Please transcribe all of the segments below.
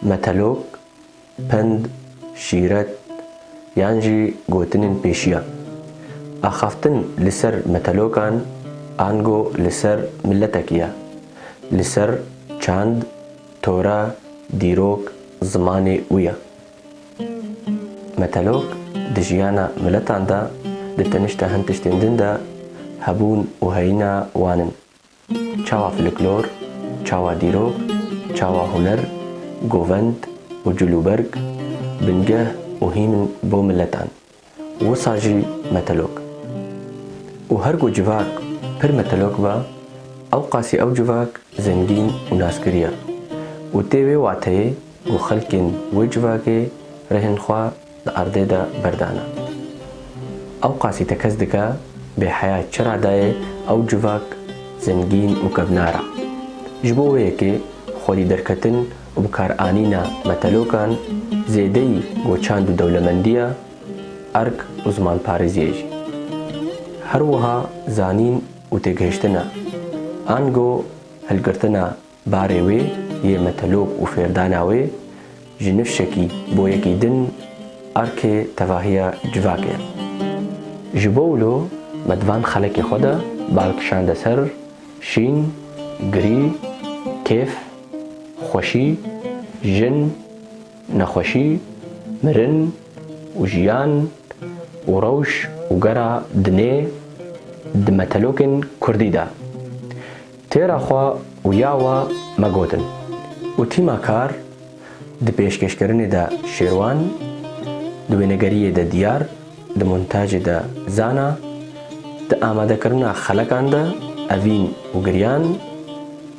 Metelok, pend, şîret yan jî gotinên pêşiyan. Axaftin li ser metelokan ango li ser miletekî ye, li ser çand, tora, dîrok, zimanê wî ye. Metelok di jiyana miletan de di tenişta hin tiştên din de hebûn û heyîna wan in. Çawa fliklor, çawa dîrok, çawa huner, govend û cilûberg bingeh û hîm in bo miletan, wisa jî metelok. Û her ku civak pir metelok ba, ewqasî ew civak zengîn û naskirî ya. Û tê wê wateyê ku xelkên wê civakê rêhên xwe Li erdê de berdana. Ew qasî te kes dike, bêheya çira dayê ew civak zengîn û kevnar a. Ji bo wê yekê xwedî derketin û bikaranîna metalokan zêdeyî goçand û dewlemendiya erk û zimanparêziyê jî. Her wiha zanîn û têgihiştina, ango hilgirtina Barê wê yê metelok û fêrdana wê ji nifşekî bo yekî din erkê tevahiya civak e. Ji bo wilo me di van xelekê xwe de bal kişande ser şîn, girî, kêf, xweşî, jin, nexweşî, mirin û jiyan û rewş û gera dinê di metelokên kurdî de. Têra xwe û ya we me gotin û tîma kar di pêşkêşkirinê de Şêrwan, di wênegeriyê de Diyar, di montajê de Zana, di amadekirina xelekan de Evîn û Giryan,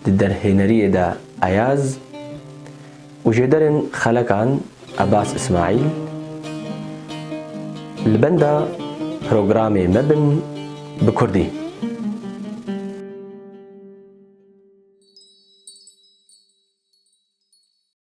di derhêneriyê de Ayaz, Û jê derên xelekan Ebas Îsmaîl li benda programê me bin bi kurdî.